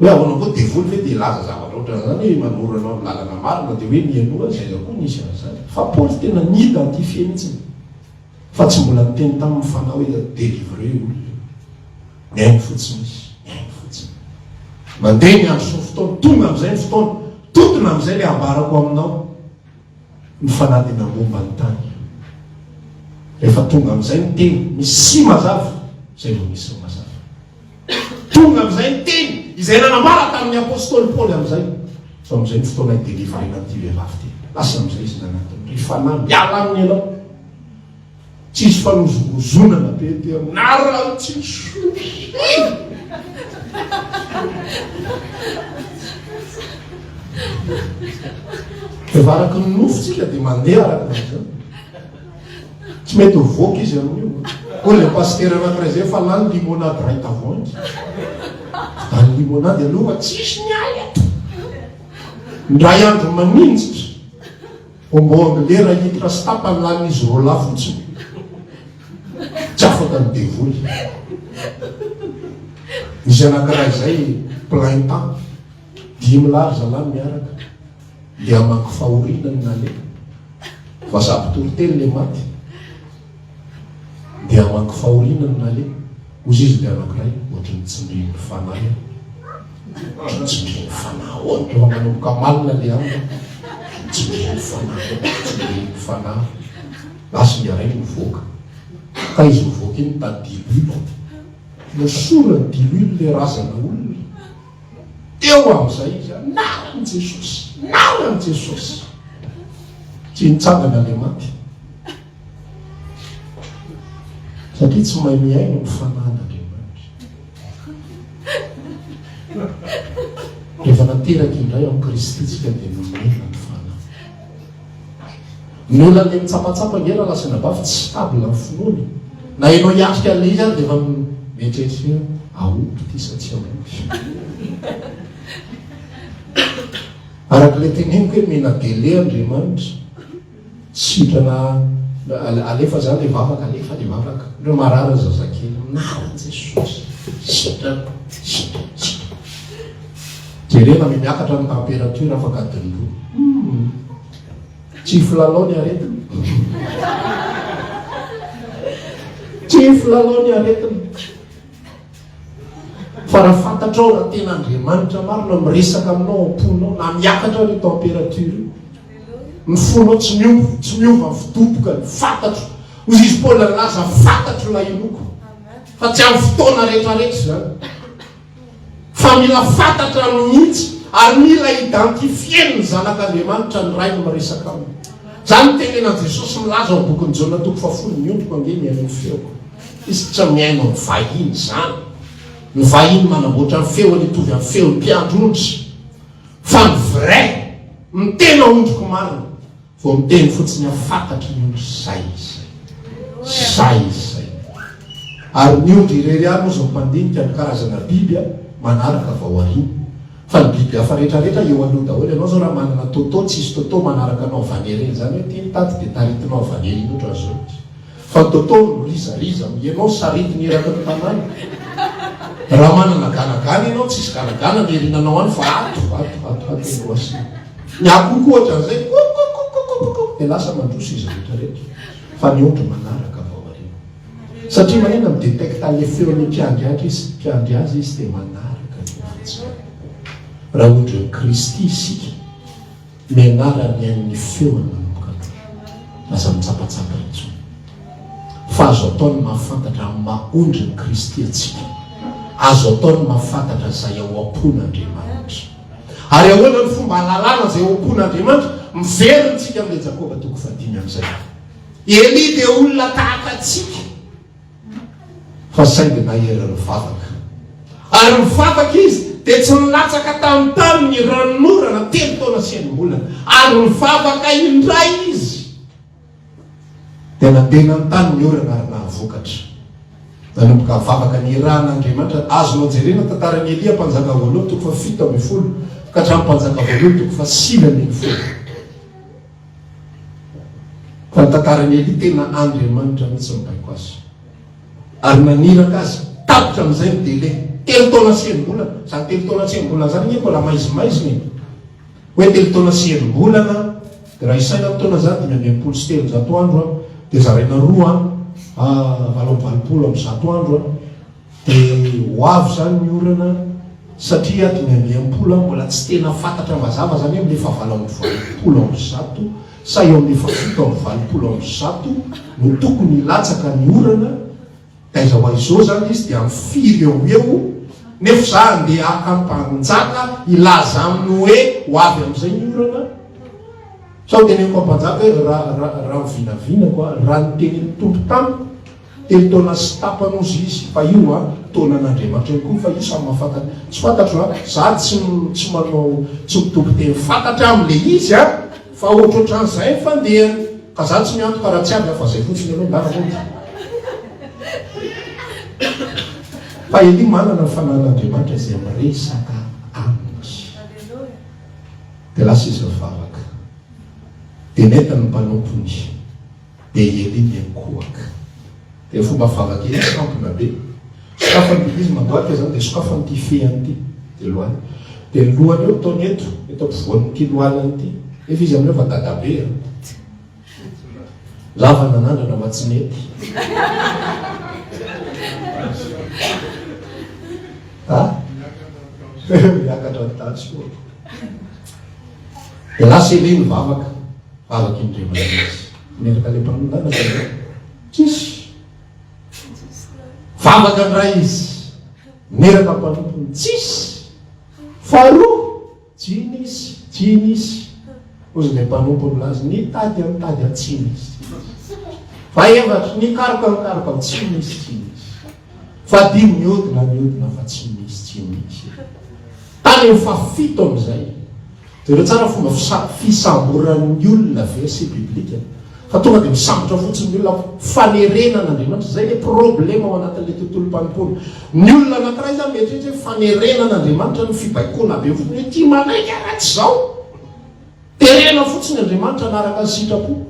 Hoe ahoana koa, devoly ve te hilaza zavatra ohatran'izany hoe manoro anao amin'ny lalana marina dia hoe mialoha azy, aiza koa nisy an'izany. Fa Paoly tena ni-identifier mihitsy fa tsy mbola niteny taminy fanahy hoe delivrer io olona io. Mihaino fotsiny izy, mihaino fotsiny. Mandeha ny andro sy ny fotoana, tonga amin'izay ny fotoana, totona amin'izay ilay ambarako aminao. Ny fanahy dia namomba ny tany. Rehefa tonga amin'izay ny teny, ny si mazava, izay vao misy ny mazava. Tonga amin'izay ny teny izay nanambara tamin'ny apostoly Paoly amin'izay, Fa amin'izay ny fotoana hidelivarena an'ity vehivavy ity. Lasa amin'izay izy nanatona, Ry fanahy, miala aminy ianao. Tsy hisy fanozongozonana be ety aminareo intsony. Efa araka ny nofo tsika dia mandeha araka izany. Tsy mety mivoaka izy amin'io. Koa ilay pasitera anankiray izay efa lany limonade iray tavoahangy. Adany limonade ianao fa tsisy ny ahy eto. Indray andro maninjitra, hombo anglais iray litre sy tapany lanin'izy roa lahy fotsiny. Tsy afaka ny devoly. Nisy anankiray izay plaintant. Dimy lahy ry zalahy miaraka dia hamaky fahoriana ny naleha, fa sady mpitory teny ilay maty dia hamaky fahoriana ny naleha, hoy izy dia anankiray ohatry ny tsindrin'ny fanahy aho. Ohatry ny tsindrin'ny fanahy aho, tonga manomboka malina ilay andro, ohatry ny tsindrin'ny fanahy aho, tsindrin'ny fanahy. Lasa ilay iray nivoaka, ka izy mivoaka iny tadiloilo. Nosorany diloilo ilay razana olona. Teo amin'izay izy, Anarany i Jesosy! Anarany i Jesosy! Tsy nitsangana ilay maty. Satria tsy mahay mihaino ny fanan'Andriamanitra. Rehefa nateraka indray amin'i Kristy isika dia nomena ny fanahy. Mila le mitsapatsapa nge raha lazaina bafy tsy stable ny finoana e! Na enao hiatrika anle izy ary de efa mieritreritra hoe ahoako ty sa tsy ahoako? Araka le teneniko hoe mena dele Andriamanitra sitrana alefa za le vavaka alefa le vavaka ndreo marary zazakely anaran Jesosy sitrana sitrana sitrana Jerena ve miakatra ny temperature afaka adiny roa. Humm. Tsy filalao ny aretina. Tsy filalao ny aretina. Fa raha fantatrao raha tena Andriamanitra marina miresaka aminao am-ponao na miakatra ny temperature io. Ny fonao tsy miova, tsy miova ny fidoboka, ny fantatro. Hoy izy Paoly nilaza, fantatro ilay inoako. Fa tsy amin'ny fotoana rehetra rehetra izany. fa mila fantatra mihitsy ary mila identifier-n'ny zanak'Andriamanitra ny Rainy miresaka aminy. Izany no tenenan'i Jesosy milaza ao amin'ny bokin'i Jaona toko fahafolo, Ny ondriko ange mihaino ny feoko. Izy tsy mihaino amin'ny vahiny izany. Ny vahiny manamboatra ny feony hitovy amin'ny feon'ny mpiandry ondry. Fa ny vrai, ny tena ondriko marina. Vao miteny fotsiny aho fantatry ny ondry zay izay. Zay izay. Ary ny ondry irery ihany hozy no mpandinika ny karazana biby manaraka vao ariana. Fa ny biby hafa rehetra rehetra eo aloha daholo. Ianao zao raha manana Toto, tsisy Toto manaraka anao vanere. Izany hoe ity ny tady dia taritinao vanere indrindra zao. Fa Dôtô no rizariza am ianao saritiny eraky ny tanàna. Raha manana ganagana ianao tsisy ganagana ny erinanao any fa ato, ato, ato, ato eny Roissy. Ny akohoko ohatra an'izay kokokokokokokok dia lasa mandroso izy rehetra rehetra. Fa ny ondry manaraka avy ao aoriana. Satria manina mi-detecta le feon'ny mpiandry andry izy, mpiandry azy izy dia manaraka ny ondry tsirairay. Raha ondrin'i Kristy isika. Mianara mihaino ny feony manomboka aloha. Aza mitsapatsapa intsony. Fa azo atao ny mahafantatra amin'ny maha ondrin'i Kristy antsika. Azo atao ny mahafantatra izay ao am-pon'Andriamanitra. Ary ahoana no fomba hahalalana izay ao am-pon'Andriamanitra? Miverina isika amin'ilay Jakoba toko fahadimy amin'izay. I Elia dia olona tahaka antsika. fa saingy nahery ny vavaka. Ary ny vavaka izy dia tsy nilatsaka tamin'ny tany ny ranonorana telo taona sy enim-bolana. Ary ny vavaka indray izy dia nandeha nanontany ny orana ary nahavokatra. Nanomboka vavaka nirahana Andriamanitra. Azonao jerena tantaran'i Elia mpanjaka voalohany toko fahafito ambin'ny folo ka hatramin'ny mpanjaka voalohany toko fahasivy ambin'ny folo. Fa ny tantaran'i Elia, tena Andriamanitra mihitsy nibaiko azy ary naniraka azy. Tapitra amin'izay ny délai, telo taona sy enim-bolana. Izany telo taona sy enim-bolana izany anie mbola maizimaizina e! Hoe telo taona sy enim-bolana, dia raha isaina amin'ny taona izany, dimy amby enimpolo sy telonjato andro, dia zaraina roa, valo amby valopolo amby zato andro. Dia ho avy izany ny orana satria ato ny andiam polo an mbola tsy tena fantatra mazava izany hoe milefa valo amby valopolo amby zato sa eo amin'ny efa fito amby valopolo amby zato no tokony hilatsaka ny orana taiza ho aiza eo izany izy dia amin'ny firy eo ho eo nefa za andeha haka ampanjaka hilaza aminy hoe ho avy amin'izay ny orana sao teneniko ampanjaka hoe raha raha raha ny vinavinako a raha ny tenenin'ny tompo tamiko Telo taona sy tapany ozy izy fa io a taona an'Andriamanitra io koa fa io samy mahafantatra tsy fantatro a za tsy tsy manao tsy mitoby teny fantatra amin le izy a fa ohatrohatran'izay ny fandehany ka za tsy miantoka raha tsy avy a fa zay fotsiny aloha ngah mody fa Elie manana ny fanahin'Andriamanitra izay miresaka aminy dia lasa izy nivavaka dia nentiny ny mpanompony Dia ery ny enkohaka. Dia fomba vavaka ery mitampina be. Sokafan'ity izy mandoalika izany dia sokafan'ity fehiny ity. Dia lohaliny. Dia ny lohany eo ataony eto, eto ampovoan'ity lohaliny ity. Nefa izy amin'io efa dadabe a! Lava nanandrana fa tsy nety. Ha? Miakatra ny daty soa. Dia lasa ery ny vavaka. Araka ny revan'ny izy. Miaraka le mpanongana zay e. Tsisy. Vavaka ndray izy. Miaraka mpanompony. Tsisy. Faharoa. Tsy nisy. Tsy nisy. Hozy le mpanompony laza. Nitady aho nitady aho tsy nisy. Fahaefatra. Nikaroka nikaroka aho tsy nisy. Tsy nisy. Fa dia mihodina mihodina fa tsy misy tsy misy. Tany amin'ny fahafito amin'izay. Jereo tsara fomba fisa, fisamboran'ny olona verset biblique. Fa tonga dia misambotra fotsiny ny olona fanerena an'Andriamanitra. Izay ilay problème ao anatin'ilay tontolom-panompoana. Ny olona anankiray izany mieritreritra hoe fanerena an'Andriamanitra ny fibaikoana be fotsiny hoe ity manaiky ary raha tsy izao. Terena fotsiny Andriamanitra anaraka ny sitrapo.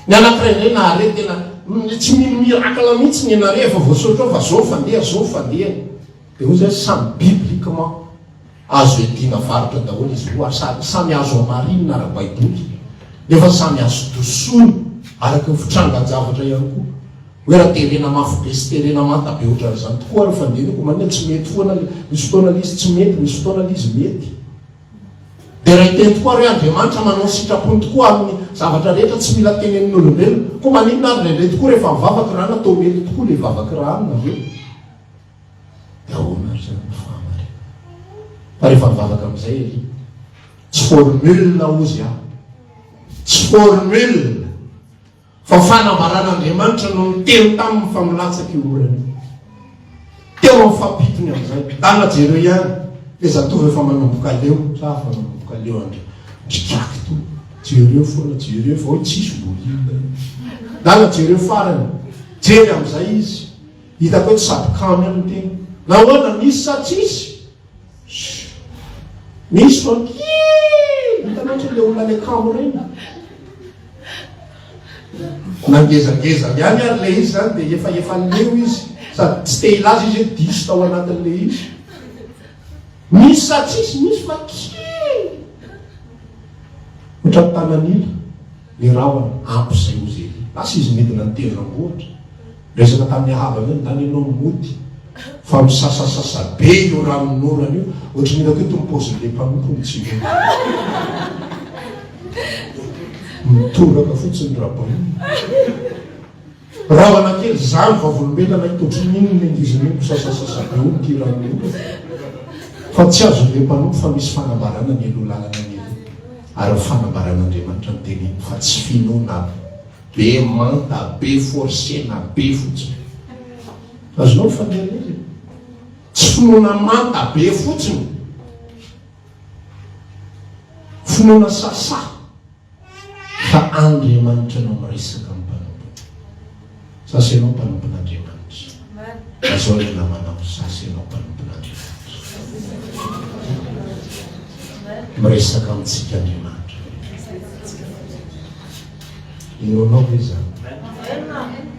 Ny anankiray indray nahare tena tsy mino miracle mihitsy ny nare efa voasoratra ao fa zao fandeha zao fandeha dia hoy zany samy bibliquement azo iadiana varotra daholo izy roa ary samy azo hamarina ara baiboly nefa samy azo dosona araka ny fitrangan javatra ihany koa hoe raha terena mafy be sy terena manta be ohatran'izany tokoa ny fandiniko manina tsy mety foana misy fotoana l'izy tsy mety misy fotoana l'izy mety Dia ray teny tokoa re Andriamanitra manao ny sitrapony tokoa aminy zavatra rehetra tsy mila tenenin olombelona koa maninona ary indraindray tokoa rehefa mivavaka ra natao mety tokoa le vavaka ra aminy avy eo dia ahoana ary zany ny fahamarinana fa rehefa mivavaka amizay ery tsy formule ozy aho tsy formule Fa fanambaran'Andriamanitra no niteny taminy fa milatsaka io orana io. Teo amin'ny fahapitony amin'izay, Dala jereo ihany le zatovo efa manomboka leo, sa afa manomboka leo andry Mpikaky to, jereo foana, jereo fa hoe tsisy bolinina io. Dala jereo farany, jery amin'izay izy, hitako hoe tsy sady kamo ihany ny teny. Nahoana, misy sa tsisy? Misy fa kely hitanao ohatry ilay olona any akamo ireny. Na ngezangezany ihany ary ilay izy izany dia efa efa leo izy sady tsy te hilaza izy hoe diso tao anatin'ilay izy. Misy sa tsisy, misy fa kely ohatran'ny tanan'ila ny rahona ampy izay ho zely. Lasa izy midina an-tendrombohitra. Resaka tamin'ny havany eo ny tany ianao mody fa misasasasa be io ranon'orana io, ohatran'ny hitako eto ny paozin'ilay mpanompony tsy mody mitoraka fotsiny Rabaina. Rahona kely izany vavolombelona ito ohatran'ny inona ny angiziny io misasasasa be io ity ranon'orana fa tsy azon'ilay mpanompo fa misy fanambarana mialoha lalana ny eloha ary ny fanambaran'Andriamanitra ny teniny fa tsy finoana aby. Be manta be forcena be fotsiny. Azonao ny fanoheran'izy e. Tsy finoana manta be fotsiny. Finoana sasa fa Andriamanitra no miresaka amin'ny mpanompony. Sasa ianao mpanompon'Andriamanitra. Lazao ilay namanao, sasa ianao mpanompon'Andriamanitra. Miresaka amintsika Andriamanitra. Enonao ve izany?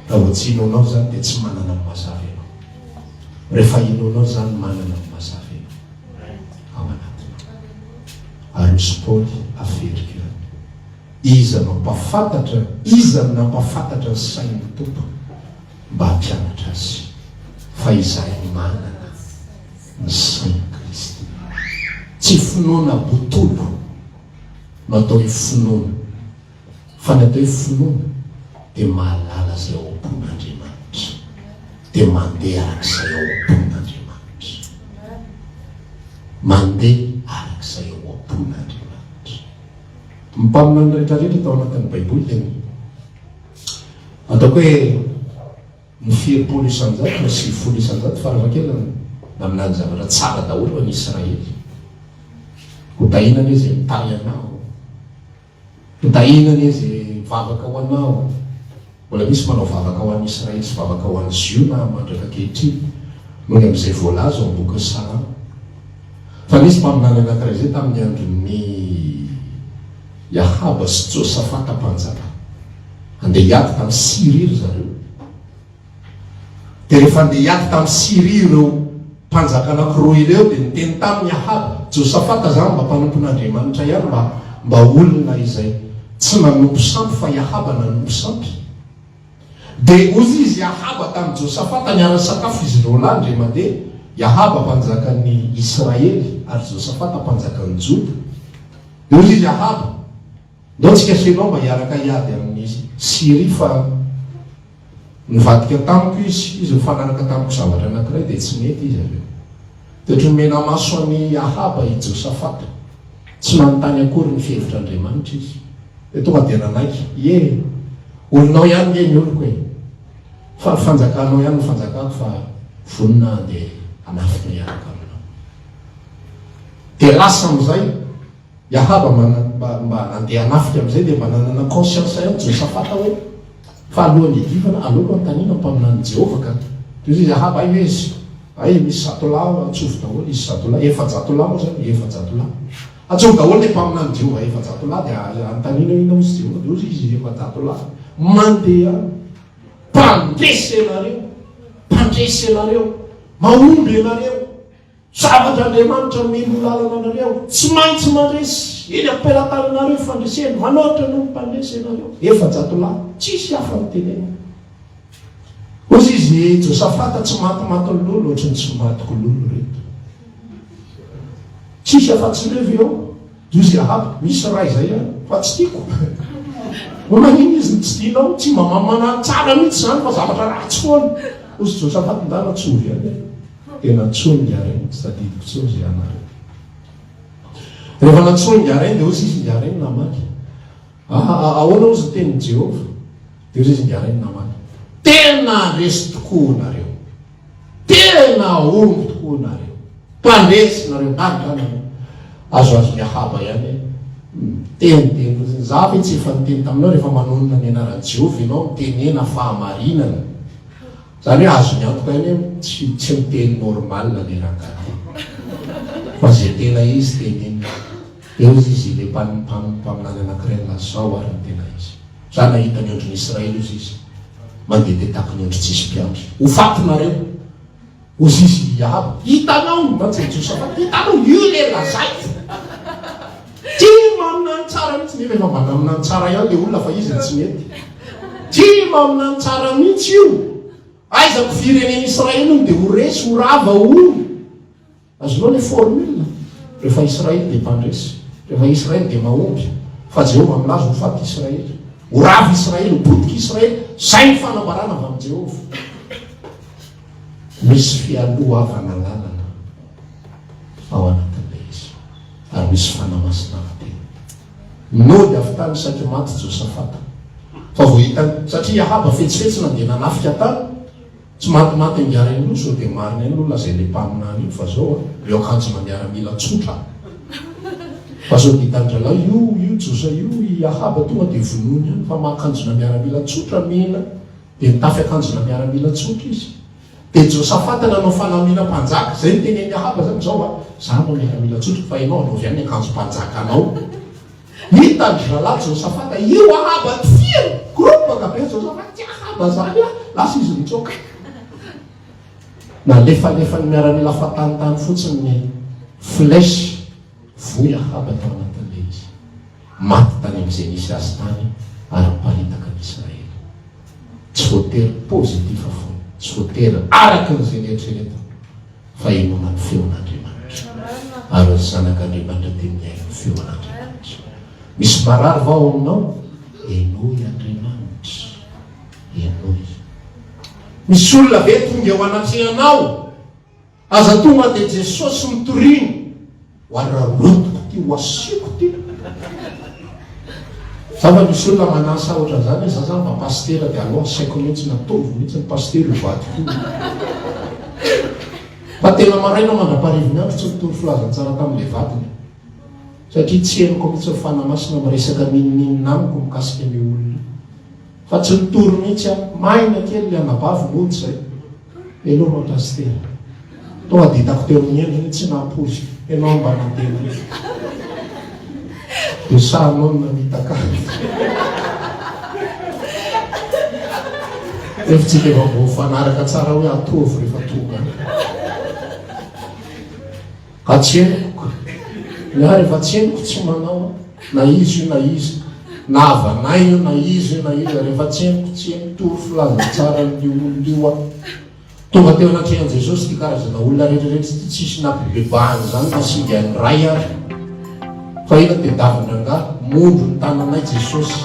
Raha tsy enonao izany dia tsy manana ny mazava ianao. Rehefa enonao izany manana ny mazava ianao ao anatinao. Ary misy Paoly averiko ihany. Iza mampahafantatra, iza no nampahafantatra ny sain'ny Tompo mba hampianatra azy fa izahay manana ny sain'i Kristy. Tsy finoana botolo. no atao hoe finoana, fa ny atao hoe finoana dia mahalala izay ao am-pon'Andriamanitra, dia mandeha arak'izay ao am-pon'Andriamanitra. Mandeha arak'izay ao am-pon'Andriamanitra. Ny mpaminany rehetra rehetra tao anatin'ny Baiboly dia ny ataoko hoe, ny firimpolo isanjato na sivy folo isanjato farafahakeliny naminany zavatra tsara daholo any Israely, ho dahina anie izay mitahy anao, ho dahina anie izay mivavaka ho anao, mbola misy manao vavaka ho an'i Israely sy vavaka ho an'i Ziona mandraka ankehitriny noho ny amin'izay voalaza ao amin'ny bokin'ny Salamo, fa nisy mpaminany anankiray izay tamin'ny andron'ny. I Ahaba sy Josafata mpanjaka. Handeha hiady tamin'i Syria ry zareo. Dia rehefa handeha hiady tamin'i Syria ireo mpanjaka anankiroa ireo, dia niteny taminy i Ahaba, Josafata, izaho mba mpanompon'Andriamanitra ihany, mba, mba olona izay tsy nanompo sampy, fa i Ahaba nanompo sampy. Dia hoy izy i Ahaba tamin'i Josafata, Miara-misakafo izy ireo lahy, indray mandeha, i Ahaba mpanjakan'i Israely ary Josafata mpanjakan'i Joda. Dia hoy izy Ahaba, Ndao tsika sy ianao mba hiaraka hiady amin'i Syria, fa nivadika tamiko izy, izy nifanaraka tamiko zavatra anankiray, dia tsy nety izy avy eo. Dia nomenamaso an'i Ahaba i Josafata. Tsy nanontany akory ny fihevitr'Andriamanitra izy. Dia tonga dia nanaiky, Ie, olonao ihany nge ny oloko e! Fa ny fanjakanao ihany no fanjakako fa vonona handeha hanafika hiaraka aminao. Dia lasa amin'izay. Yahaba mba mba nandeha hanafika amin'izay dia mba nanana conscience ihany Josafata hoe fa alohan'ny hiadivana aleoko hanontaniana ny mpaminanin'i Jehovah ka dia hoy izy Yahaba aiza izy? Hay misy zato lahy ao antsovo daholo izy zato lahy efajato lahy moa izany efajato lahy Antsovo daholo ilay mpaminanin'i Jehovah efajato lahy dia anontaniana hoe inona hozy Jehovah dia hoy izy efajato lahy mandeha mpandresy ianareo mpandresy ianareo mahomby ianareo Zavatra Andriamanitra mino lalana anareo. Tsy maintsy mandresy. Eny am-pelatananareo fandresena. Manoatra noho ny mpandresy ianareo. Efajato lahy. Tsisy hafa no tenenina. Hozy izy, Josafata, tsy matimatin'ny lolo ohatry ny tsy matiko lolo reto. Tsisy afa-tsy ireo ve ao? Hozy Ahaba, Misy iray izay ihany, fa tsy tiako. Ho maninona izy no tsy tianao? Tsy mba mamanany tsara mihitsy izany fa zavatra ratsy foana. Hozy Josafata, Ndana tsy ovy ihany aho. Tena antsoiny Ngiareny tsy tadidiko intsony izay anarany. Rehefa nantsoiny Ngiareny dia hoy Zizy Ngiareny namaky, Aa ahoana hozy ny tenin'i Jehovah? Dia hoy Zizy Ngiareny namaky, Tena resy tokoa nareo! Tena omby tokoa nareo! Mpandresy nareo! Gaga izany aloha. Azoazon'ny Ahaba ihany hoe miteniteny fotsiny. Izaho ve tsy efa niteny taminao rehefa manonona ny anaran'i Jehovah ianao mitenena fahamarinana? Zany hoe azony antoka ihany hoe tsy tsy miteny normal le rangahy fa ze tena izy teneniny eo izy izy le mpam mpam mpaminany anakiray milaza zao ary ny tena izy za nahita ny ondriny Israely ozy izy mandeha de taky ny ondry tsisy mpiandry ho faty nareo ozy izy hiaro hitanao mantsy Josafaty hitanao io le lazaiko Tia mamina ny tsara mihitsy nefa efa vadamina ny tsara ihany le olona fa izy no tsy mety. Tia mamina ny tsara mihitsy io. Aiza ko firenena Israely hono de ho resy ho rava hono. Azonao le formule? Rehefa Israely de mpandresy. Rehefa Israely de mahomby. Fa Jehovah milaza ho faty Israely. Ho rava Israely, ho potika Israely. Zay ny fanambarana avy amin'i Jehovah. Misy fialohavana lalana ao anatin'ilay izy ary misy fanahy masina avy teny. Nody avy tany saiky maty Josafata fa vao hitany satria Ahaba fetsifetsina dia nanafika tany, tsy matimaty angiara inoa sao dia marina iny nolazain'io mpaminany io fa zao ry akanjona miaramila tsotra fa sao dia tandrelao io io Josa io i Ahaba tonga dia vonoiny any fa makanjona miaramila tsotra mena Dia nitafy akanjona miaramila tsotra izy. Dia Josafata nanao fanamiana mpanjaka. Izay no tenenin'i Ahaba izany, Izao an, izaho mba miaramila tsotra, fa ianao anaovy any ny akanjom-panjakanao. Hitan-dry zalahy Josafata io Ahaba tifiriny. Groupe ka be Josafata, tsy Ahaba izany an! Lasa izy nitsoaka. Nalefalefan'ny miaramila fahatanitany fotsiny ny flèche. Voy Ahaba tao anatin'ilay izy. Maty tany amin'izay nisy azy tany ara-paritaka ny Israely. Tsy voatery positif fona, tsy voatery araka an'izay nieritreretana, fa inoana ny feon'Andriamanitra. Ary ny zanak'Andriamanitra dia mihaino ny feon'Andriamanitra. Misy marary va ao aminao? Henoy Andriamanitra. Henoy. Misy olona ve tonga eo anatrehanao? Aza tonga dia Jesosy mitoriana ho ary rarotiko ty ho asiako ty. Za mba misy olona manasa ohatran zany hoe za zany mba pasitera dia aleo asaiko mihintsy na ataovy mihintsy ny pasitera io vadiko io. Fa tena maraina mandrapaharivin'ny andro tsy nitory filazantsara tamin'ilay vadiny satria tsy henoko mihintsy ny Fanahy Masina miresaka ninoninona amiko mikasika an'io olona io. Fa tsy nitory mihintsy aho. Maina kely ilay anabavy monja e. Hello ry Pasitera. Tonga dia hitako teo amin'ny endriny tsy nampoiziko. Ianao no mba nandeha nify. Dia sahinao ny namitaka ahy. Hevitsika efa voafanaraka tsara hoe ataovy rehefa tonga any. Hatseniko ny ahy fa tseniko tsy manao na iza io na iza na havanay io na iza io na iza rehefa tseniko tsy eny tory filazantsaran'io olona io aho tonga teo anatrehan'i Jesosy ity karazana olona rehetra rehetra ity tsisy nampibebahana izany fa singa ny Ray ary fa ela tedavin-drangahy mondro ny tananay Jesosy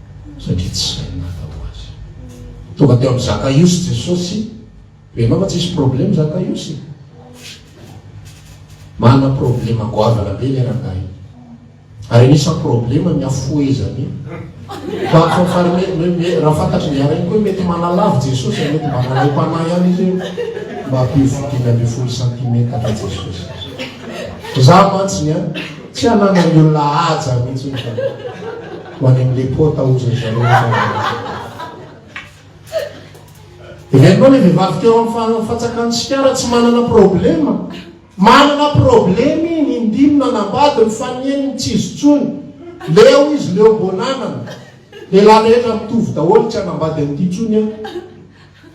satria tsy hay mahafatao azy. Tonga teo amin'i Zakaiosy Jesosy, hoe ianao fa tsy hisy problème Zakaiosy e. Manana problème goavana be ilay rangahy. Ary anisan'ny problème ny hafohezany. Fa fa fa raha fantatry ny arainy koa mety manalavy Jesosy, mety mba manalaim-panahy ihany izy hoe mba ampivo dimy ambin'ny folo santimetatra Jesosy. Za mantsy ny an, tsy hananan'ny olona haja mihitsy hoe. Ho any am le pota ozy ry zareo Dia hainao le vehivavy teo am fatsakan tsikara tsy manana problema Manana problema i ny indimy nanambady ny fanien ny tsy izy tsony Leo izy leo bonanana Lehilahy rehetra mitovy daholo tsy hanambady an'ity tsony aho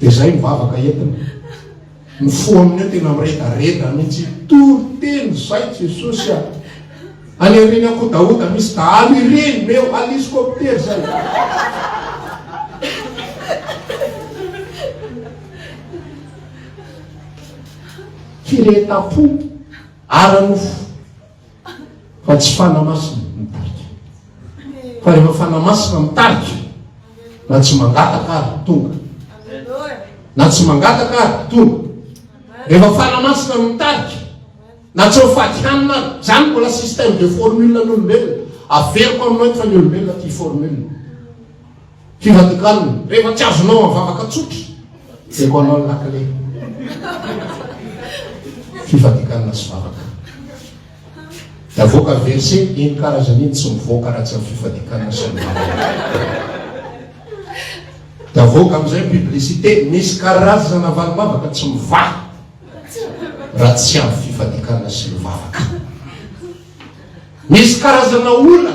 Dia izay ny vavaka entina. Mifoha amin'io tena miredareda mihitsy. Tory teny izay Jesosy a! Any aorian'ny ankodahoda misy dahalo ireny meo aliscopter izay. Firehetam-po ara-nofo. Fa tsy fanahy masina mitarika. Fa rehefa fanahy masina mitarika, na tsy mangataka ary tonga. Na tsy mangataka ary tonga. Rehefa fanahy masina mitarika, na tsy mifaty hanina ary. Izany mbola système de formule an'olombelona. Averiko aminao eto fa ny olombelona tia formule. Fivadikanina. Rehefa tsy azonao amin'ny vavaka tsotra, jereko anao ny lakile. Fivadikanina sy vavaka. Dia avoaka verse eny karazany eny tsy mivoaka raha tsy amin'ny fivadikanina sy ny vavaka. Dia avoaka amin'izay publicité, misy karazana valim-bavaka tsy mivaha raha tsy amin'ny fivadikanina sy ny vavaka. Misy karazana olana.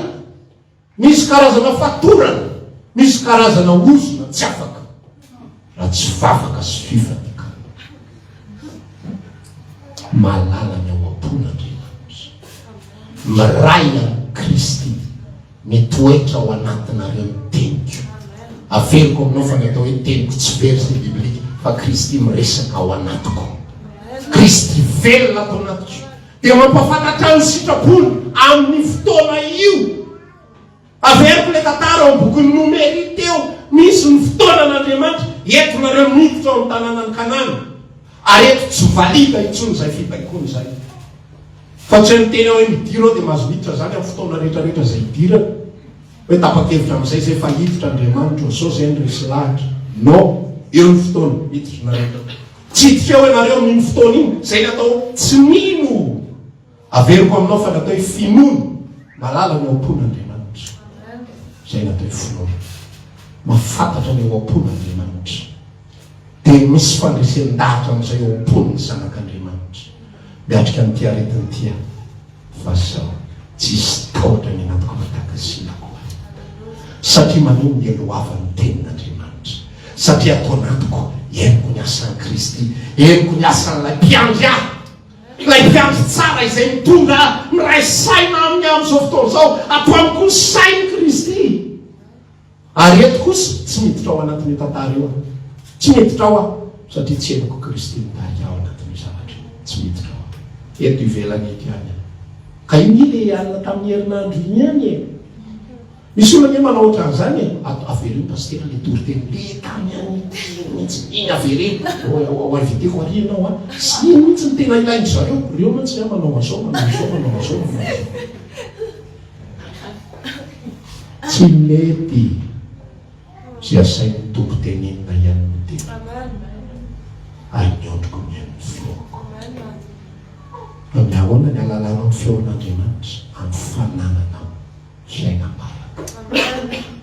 Misy karazana fatorana, misy karazana ozona tsy afaka raha tsy vavaka sy fifanekana. Malala ny ao am-pon' Andriamanitra. Miray amin'i Kristy, mitoetra ao anatinareo ny teniko. Averiko aminao fa ny atao hoe teniko tsy verset biblique fa Kristy miresaka ao anatiko. Kristy velona ato anatiko. Dia mampahafantatra ny sitrapony amin'io fotoana io. Averiko ilay tantara ao amin'ny bokin'ny Nomery teo, misy ny fotoanan'Andriamanitra, eto nareo miditra ao amin'ny tanànan'i Kanana, ary eto tsy valida intsony izay fibaikoana izay. Fa tsy hoe ny teny hoe midira ao dia mahazo miditra izany amin'ny fotoana rehetrarehetra izay hidirana. Hoe tapa-kevitra amin'izay izay fa hiditra Andriamanitra ao, sao izay no resy lahatra. Non, eo ny fotoana, miditra nareo. Tsidika ao ianareo amin'iny fotoana iny, izay natao tsy mino. Averiko aminao fa natao hifinoana, mahalala ny eo am-pon'Andriamanitra. Izay natao hifinoana. Mahafantatra ny eo am-pon'Andriamanitra. Dia misy fandresen-dahatra amin'izay eo am-pon'ny Zanak'Andriamanitra. Miatrika an'ity aretina ity aho fa sao tsy hisy tahotra ny anatiko avy takasina akory. Satria maneho ny helohavan'ny Tenin'Andriamanitra. Satria ato anatiko, henoko ny asan'i Kristy. Henoko ny asan'Ilay Mpiandry ahy. Ilay Mpiandry tsara izay mitondra ahy. Miray saina Aminy amin'izao fotoana izao. Ato amiko ny sain'i Kristy. Ary eto kosa tsy miditra ao anatin'io tantara io aho. Tsy miditra ao aho satria tsy henoko Kristy mitarika ahy ao anatin'io zavatra io. Tsy miditra ao aho. Eto ivelany eto ihany aho. Ka io nge le alina tamin'ny herinandro iny ihany e! Misy olona nge manao ohatran'izany e! At, avereno Pasitera le toriteny le tany an'i Tey iny mihitsy, iny avereno! Ho inviteko ary ianao a! Tsy iny mihitsy no tena ilain-dry zareo. Reo mantsy nga manao an'zao, manao an'zao, manao an'zao, manao an'zao. Tsy mety tsy asain'ny Tompo tenenina ihany ny teniko, ary ny ondriko mihaino ny feoko. Fa mihaona ny alalanao ny feon'Andriamanitra amin'ny fanananao fiainam-baraka.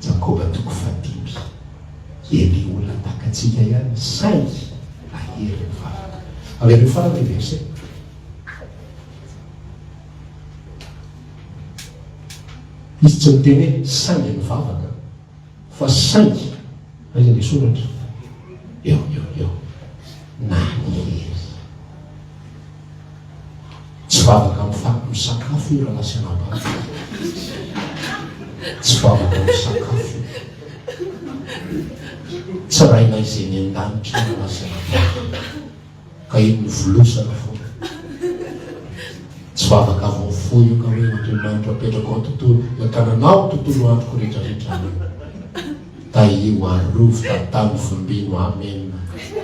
Jakoba toko fahadimy. Elia olona tahaka antsika ihany saingy nahery ny vavaka. Avereno farany ny verset. Izy tsy niteny hoe saingy nivavaka fa saingy ry ny soratra eo eo eo naniry. Tsy vavaka amin'ny faty misakafo io raha lasa nabato. Tsy vavaka misakafo. Tsy rainay izay ny an-danitra raha lasa nabato. Ka iny mivolosana fona. Tsy vavaka vao foy io ka hoe Andriamanitra apetrako ao tontolo ny tananao tontolo androko rehetra rehetra amen tahio arovy tantano vombino amen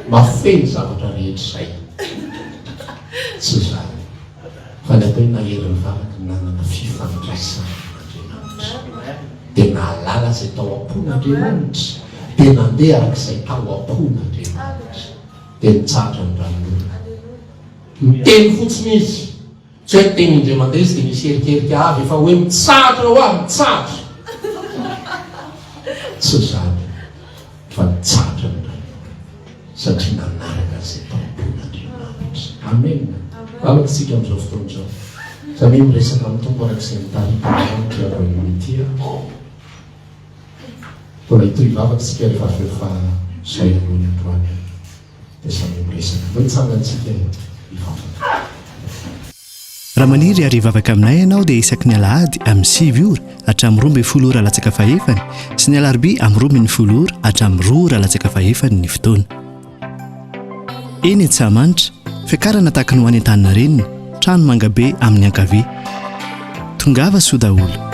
mafey ny zavatra rehetra izay tsy izany fa ny atao hoe nahery ny vavaka ny nanana fifandraisana Andriamanitra dia nahalala izay tao am-pon'Andriamanitra dia nandeha arak'izay tao am-pon'Andriamanitra dia nitsahatra ny ranon'orana. Niteny fotsiny izy, tsy hoe teny indray mandeha izy dia nisy erikerika avy fa hoe mitsahatra ho'a, mitsahatra. Tsy izany fa nitsahatra ny ranon'orana satria nanaraka izay taom-bolon'Andriamanitra. Amen. Lalako isika amin'izao fotoana izao. Samia miresaka amin'ny Tompo araka izay nitariky Andriamanitra ianao ity an. Koa raha hitohy vavaka isika rehefa avy eo fa izao ihany hono androany dia samy miresaka. Mba hitsangantsika hivavaka. Raha maniry ary hivavaka aminay ianao dia isaky ny alahady amin'ny sivy ora hatramin'ny roa ambin'ny folo ora latsaka fahefany sy ny alarobia amin'ny roa ambin'ny folo ora hatramin'ny roa ora latsaka fahefany ny fotoana. Eny Antsahamanitra, fiakarana tahaka ny ho any Antaninarenina, trano manga be amin'ny ankavia. Tongava soa daholo.